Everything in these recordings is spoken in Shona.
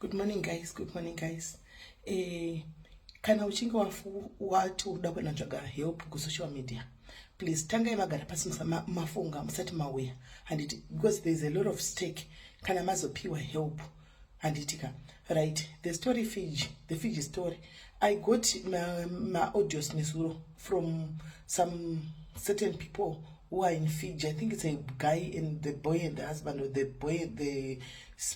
good morning guys good morning guys eh, kana uchinge wati uda kunotsvaga help kusocial media please tangai magara pasi mafunga musati mauya handiti because there is a lot of stake kana mazopiwa help handitika right the story fiji the fiji story I got my, my audios nezuro from some certain people who are in Fiji. I think it's a guy and the boy and the husband or the boy and the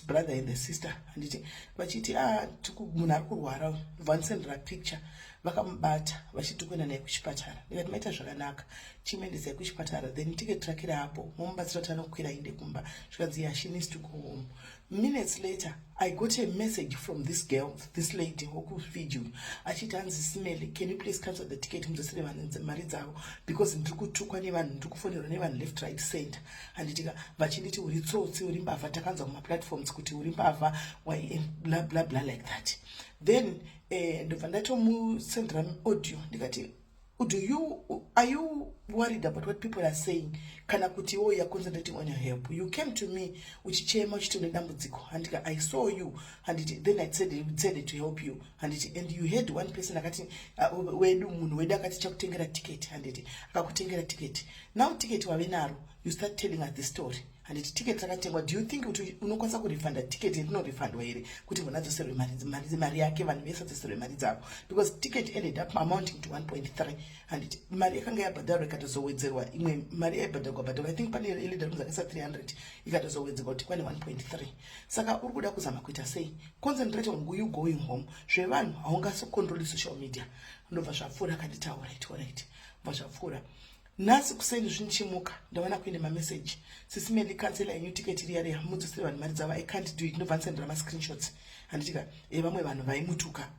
brother and the sister. Anditi vachiti ah tuku munhu ari kurwara vanisendera picture vakamubata vachiti kuenda naye kuchipatara ndikati maita zvakanaka chimuendesai kuchipatara then tiketi rake raapo momubatsira kuti anokwira ainde kumba zvikanzi yeah she needs to go home Minutes later, I got a message from this girl, this lady, Hoku Fiju. Achiti hanzi Simele, can you please cancel the ticket mudzotsere vanhu mari dzavo because ndiri kutukwa nevanhu, ndiri kufonerwa nevanhu left right center. Handitika vachinditi uri tsotsi, uri mbavha, takanzwa kuma platforms kuti uri mbavha, why blah blah blah like that. Then eh, ndobva ndatomusendera audio ndikati do you are you worried about what people are saying kana kuti iwo you're concentrating on your help you came to me uchichema uchiti une dambudziko handiti i saw you handiti then i decided to help you handiti and you had one person akati uh, wedu munhu wedu akati chakutengera ticket handiti akakutengera ticket now ticket wave naro you start telling us the story handiti ticket rakatengwa do you think kuti unokwanisa kurefunda ticket rinorefundwa here kuti munhu adzoserwe mari mari yake vanhu vese adzoserwe mari dzavo because ticket ended up amounting to 1.3 handiti mari yakanga yabhadharwa ikatozowedzerwa imwe mari yaibhadharwa bhadharwa i think pane elida rinozi akaisa 300 ikatozowedzerwa kuti kwane 1.3 saka uri kuda kuzama kuita sei concentrate on you going home zvevanhu haungasocontroli social media ndobva zvapfuura akanditaura it orit bva zvapfuura nhasi kuseni zvinichimuka ndaona kuine mameseji sisi meli kansela yenyu tiketi riya riya mudzosere vanhu mari dzavo i can't do it ndobva ndisendera mascreenshots handitika e eh, vamwe vanhu vaimutuka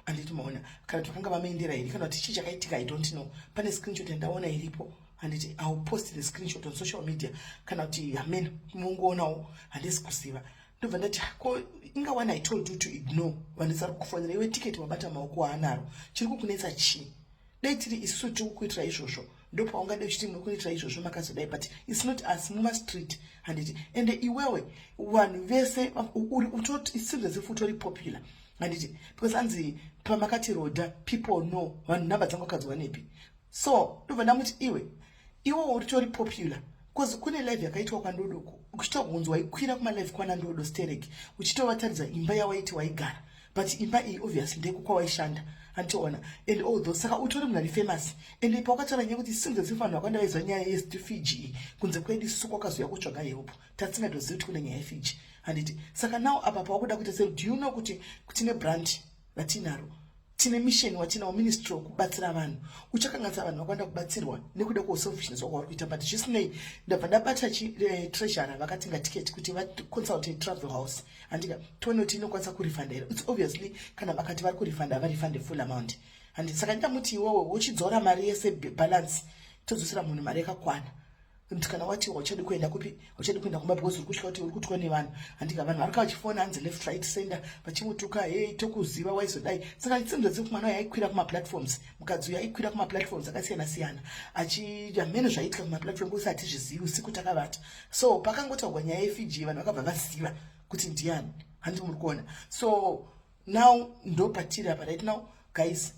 handiti maona kana twakanga vamaendera iri kana kuti chii chakaitika i don't know pane screenshot yandaona iripo handiti iw post the screenshot on social media kana kuti amen mungoonawo handisi kuziva ndobva ndati ah, ko inga one i told you to ignore vandisari kufonera iwe tiketi wabata maoko aanaro chiri kukunetsa chii dai tiri isu tiri kukuitira izvozvo ndopaungadai uchiti muri kuitira izvozvo makazodai but its not us mumastreet handiti ende iwewe vanhu vese utotisinza zifu utori popular handiti because anzi pamakati roda people know vanhu nhamba dzangu akadzwa nepi so ndobva ndamuti iwe Iwo uritori popular because kune live yakaitwa kwandodo uchitogonzi waikwira kumalive kwana ndodo sterek uchitovataridza imba yawaiti waigara but imba iyi obviously ndeko kwawaishanda antoona and all those saka utori munhu ari famous and ipa wakataura nyaya kuti since asi vanhu vakawanda vaiziva nyaya yestfg iyi kunze kwedu suku wakazouya kutsvaga help tatsingatozivi kuti kune nyaya yefg handiti saka now apa pawakuda kuita sei do you know kuti kutine brand ratinaro tine mission watinawo ministry wekubatsira vanhu uchakanganisa vanhu vakwanda kubatsirwa nekuda kweselfishness wako wari kuita but zvisinei ndabva ndabata eh, treasure vakati ngatiketi kuti vaconsulte travel house handika tione kuti inokwanisa kurefunda here its obviously kana vakati vari kurefunda havarefunda full amount handi saka ndamuti iwowo uchidzora mari yese balance todzosera munhu mari yakakwana kana wati wachadi kuenda kupi wachadi kuenda kumba because urikutya kuti uri kutwa nevanhu handika vanhu varika vachifona hanzi left right sender vachimutuka hei tokuziva waizodai saka tsinzo dzekuti mwana uyo aikwira kumaplatforms mukadzi uyo aikwira kumaplatforms akasiyana siyana achiita mheno zvaiitika kumaplatform kusi hatizvizivi usiku takavata so pakangotaurwa nyaya yefiji vanhu vakabva vaziva kuti ndiani handi muri kuona so now ndopatiri apa right now guys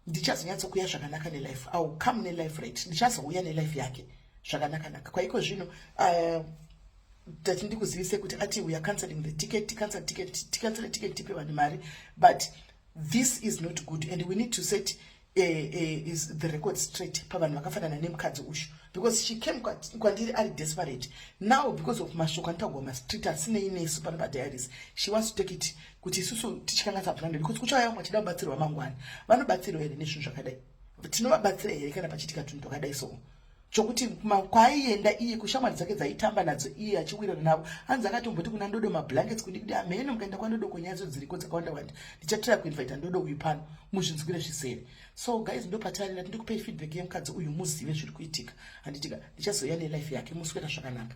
ndichazonyatsokuya zvakanaka nelife i will come nelife right ndichazouya nelife yake zvakanakanaka kwaiko zvino uh, tati ndikuzivise kuti ati we are canceling the ticket ticancel ticket ticancel ticket tipe vanhu mari but this is not good and we need to set uh, uh, is the record straight pavanhu vakafanana nemukadzi uyu because she came kwandiri ari desperate now because of mashoko anotagwa mastreet asinei nesu pano padiaries she wants to take it kuti isusu tichikanganisa vapuranda because kuchauya vamwe vachida kubatsirwa mangwana vanobatsirwa here nezvinhu zvakadai tinovabatsira here kana pachitika tunhu twakadai so chokuti kwaienda iye kushamwari dzake dzaitamba nadzo iye achiwirana navo hanzi akatomboti kuna ndodo mablankets kundikudi hameno mukaenda kwandodo konyadzo dziriko dzakawanda wanda ndichatira kuinvita ndodo uyu pano muzvinzwire zvisere so guys ndopatarira tindikupei feedback yemukadzi uyu muzive zviri kuitika handitika ndichazoya nelife yake muswera zvakanaka